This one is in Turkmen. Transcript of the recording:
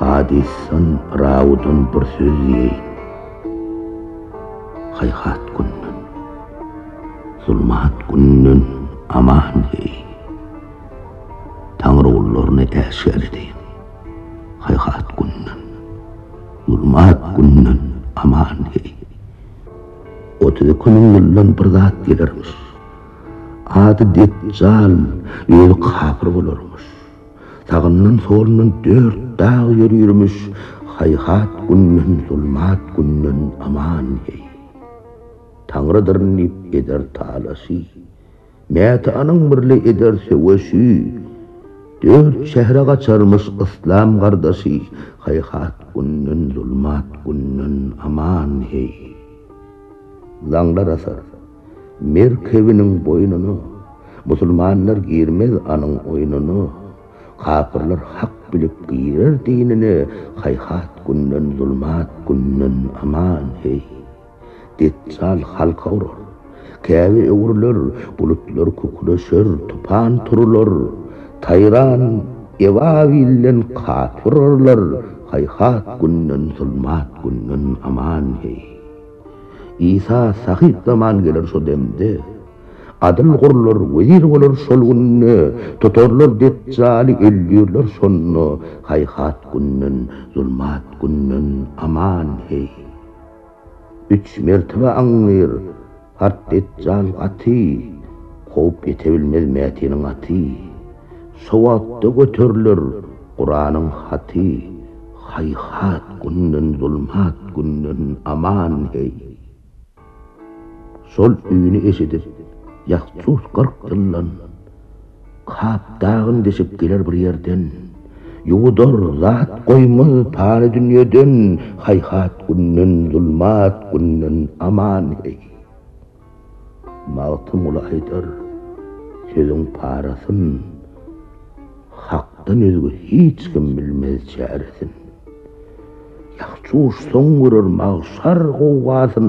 Hadisyn rawudun bir söz diýeýin. Haýhat günden, zulmat günden aman heý. Taňry gullaryny äşgär edeýin. Haýhat günden, zulmat günden aman heý. Otuz iki müň ýyldan bir zat gelermiş. Ady Detjal, özi kapyr bolarmyş. Sagyndan-solundan dört dag ýörürmüş, haýhat günden, zulmat günden aman, heý. Taňrydyr diýip eder talaşy. Mätanyň birli eder söweşi. Dört şähere gaçarmyş yslam gardaşy, Haýhat günden, zulmat günden aman, heý! Laňlar asar merkebiniň boýnuna, Musulmanlar girmez anyň oýnuna, Kapyrlar hak bilip girer dinine, Haýhat günden, zulmat günden aman, heý! Detjal halka urar. Käbe öwrüler, bulutlar kükreşer, tupan turular. Taýran, Ebabilden kat urarlar, haýhat günden, zulmat günden aman heý. Isa sahyp zaman geler şo demde. Adyl gurlar, wezir bolar şol günde, tutarlar Detjaly, öldürler şonda, haýhat günden, zulmat günden aman heý. Üç mertebe aňňyr, Hart Detjal gaty, Kowup ýete bilmez Mätiniň aty. Şo wagtda göteriler Kuranyň haty, Haýhat günden, zulmat günden aman, heý! Şol üni eşidip, Ýahjut kyrk ýyldan, Kap dagyn deşip geler bir ýerden, Ýuwudar zat goýmaz pany dünýeden, Haýhat günden, zulmat günden aman, heý! Magtymguly aýdar, Sözüň parasyn Hakdan özge hiç kim bilmez çäresin. Ýahşy uçsaň görer magşar gowgasyn.